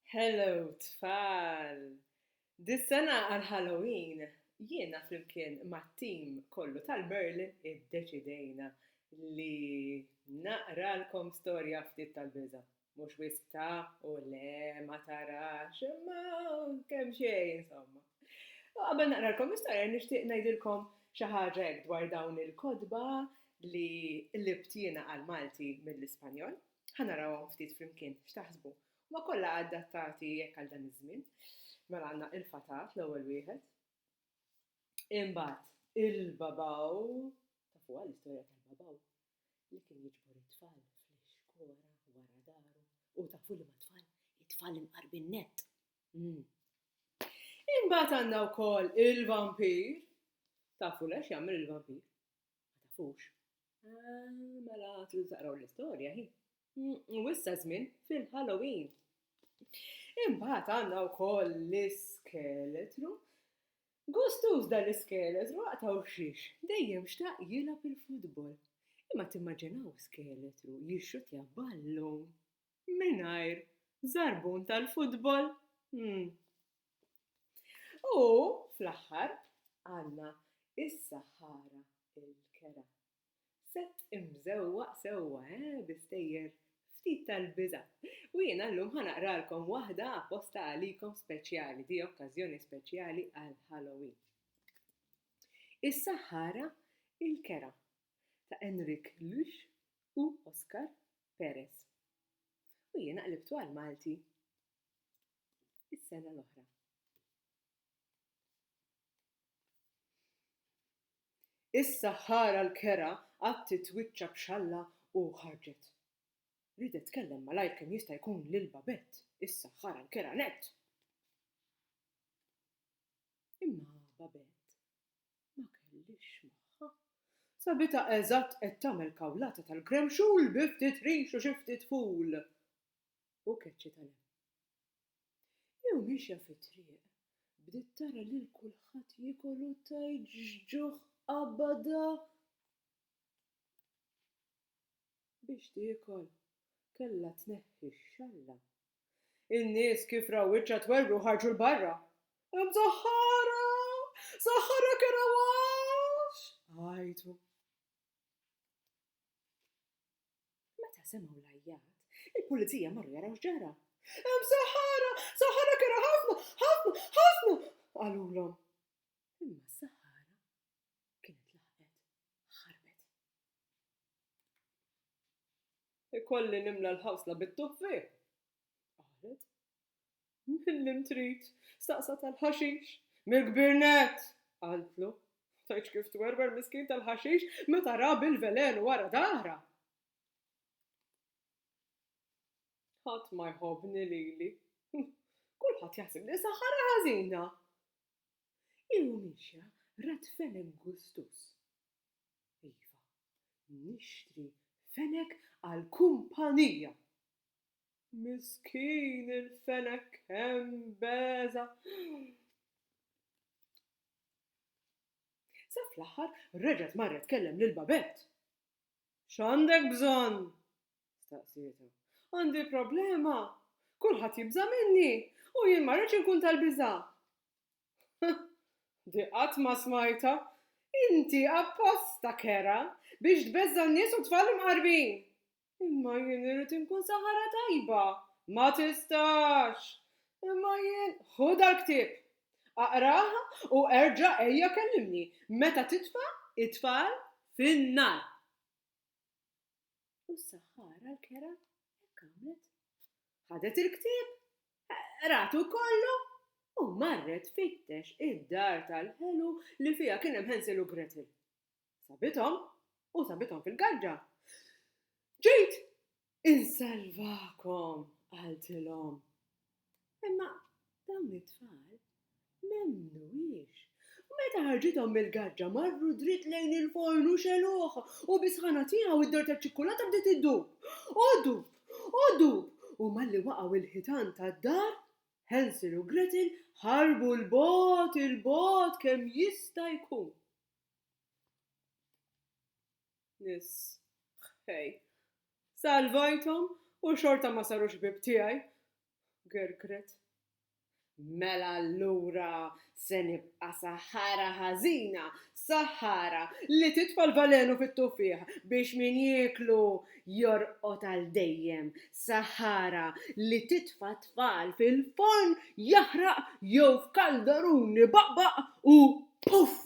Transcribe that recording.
Hello tfal! Dis-sena għall-Halloween jiena flimkien mat-tim kollu tal-Merlin iddeċidejna li naqralkom storja ftit tal-biża'. Mhux wisq ta', u le ma tarax, imma kemm xejn insomma. U qabel naqralkom l-istorja nixtieq ngħidilkom xi ħaġa hekk dwar dawn il-kotba li qlibt jiena għall-Malti mill-Ispanjol. Ħa narawhom ftit flimkien, x'taħsbu? Huma kollha adattati hekk għal dan iż-żmien. Mela għandna il-fatat, l-ewwel wieħed. Imbagħad il-babaw, tafuha l-istorja tal-babaw li kien jiġbor it-tfal fl-ixkora wara daru. U tafu li ma tfal, it-tfal imqarbin nett. Hmm. Imbagħad għandna wkoll il-vampir. Tafu lex jagħmel il-vampir? Ma tafux? Ah, mela tridu taqraw l-istorja hi. U issa żmien fil-Halloween. Imbagħad għandna wkoll l-iskeletru. Gustuż dan l-iskeletru għaqtaw xiex, dejjem xtaq jilgħab il-futbol. Imma timmaġinaw skeletru jixxutja ballun. mingħajr żarbun tal-futbol? Hmm. U fl-aħħar għandna is-saħħara l-kera. Sett imżewwaq sewwa, eh, bi stejjer ftit tal-biża'. U jiena llum ħa naqralkom waħda apposta għalikom speċjali, di okkażjoni speċjali għal Halloween. Is-saħħara l-kera ta' Enrik Lux u Oscar Perez. U jiena qlibtu għal Malti is-sena l-oħra. Issa ħara l-kera qatt titwiċċa b'xalla u ħarġet. Ridet tkellem malajr kemm jista' jkun lil Babett, issa ħara l-kera nett. Imma Babett Ma kellix magħha. Sabitha eżatt qed tagħmel kawlata tal-gremxul bi ftit rix u xi ftit ful u keċċi tal-hemm. Hi u miexja fit-triq bdiet tara lil kulħadd jiekol u tgħid x'ġuħ qabadha biex tiekol. Kellha tneħħi x-xalla In-nies kif raw wiċċha twerru ħarġu 'l barra. Imsaħħara! Saħħarek era għax! għajtu. Meta semgħu l-għajjat, il-pulizija marru jaraw x'ġara. Imsaħħara! Saħħarek era ħafna, ħafna, ħafna! qalulhom. Imma s-saħħara kienet laħqet ħarbet. Ikolli nimla l-ħawsla bit-tuffiħ? qalet. Mil-lim trid? staqsat għall-ħaxix. Mill-kbirnett! qaltlu. Tgħidx kif twerwer miskin tal-ħaxix meta ra bil-velenu wara dahrha! Ħadd ma jħobbni lili. Kulħadd jaħseb li qiesha ħara ħażina! Hi u miexja rat felen gustus. Iva, nixtri fenek għall-kumpanija. Miskin il-fenek kemm beża'. Sa fl-aħħar reġgħet marret tkellem lil Babett. X'għandek bżonn? staqsietha. Għandi problema. Kulħadd jibża' minni u jien ma rridx inkun tal-biża'. Di qatt ma smajtha! Inti apposta kerha biex tbeżża' n-nies u t-tfal imqarbin! Imma jien irrid inkun saħara tajba! Ma tistax! Imma jien. Ħu dal-ktieb! Aqrah u erġa' ejja kellimni meta titfa' t-tfal fin-nar! U s-saħħara l-kera hekk għamlet. Ħadet il-ktieb, ratu kollu u marret fittex id-dar tal-ħelu li fiha kien hemm Hansel u Gretel. Sabithom u sabithom fil-gaġġa. Ġejt insalvakom, qaltilhom. Imma dawn it-tfal m'emmnuhiex. U meta ħarġithom mill-gaġġa marru dritt lejn il-forn u xegħluh, u bis-sħana tiegħu d-dor taċ-ċikkulata bdiet iddub. O ddub! O ddub! U malli waqgħu il-ħitan tad-dar, Hansel u Gretel ħarbu 'l bogħod, 'il bogħod kemm jista' jkun. Nies ħħej. Salvajthom u xorta ma saru xbieb tiegħi. Gergret. Mela allura se nibqa' saħħara ħażina, saħħara li titfa' l-valenu fit-tuffiħ biex min jieklu jorqod għal dejjem, saħħara li titfa' t-tfal fil-forn jaħraq jew f'kaldarun ibaqbaq u puff!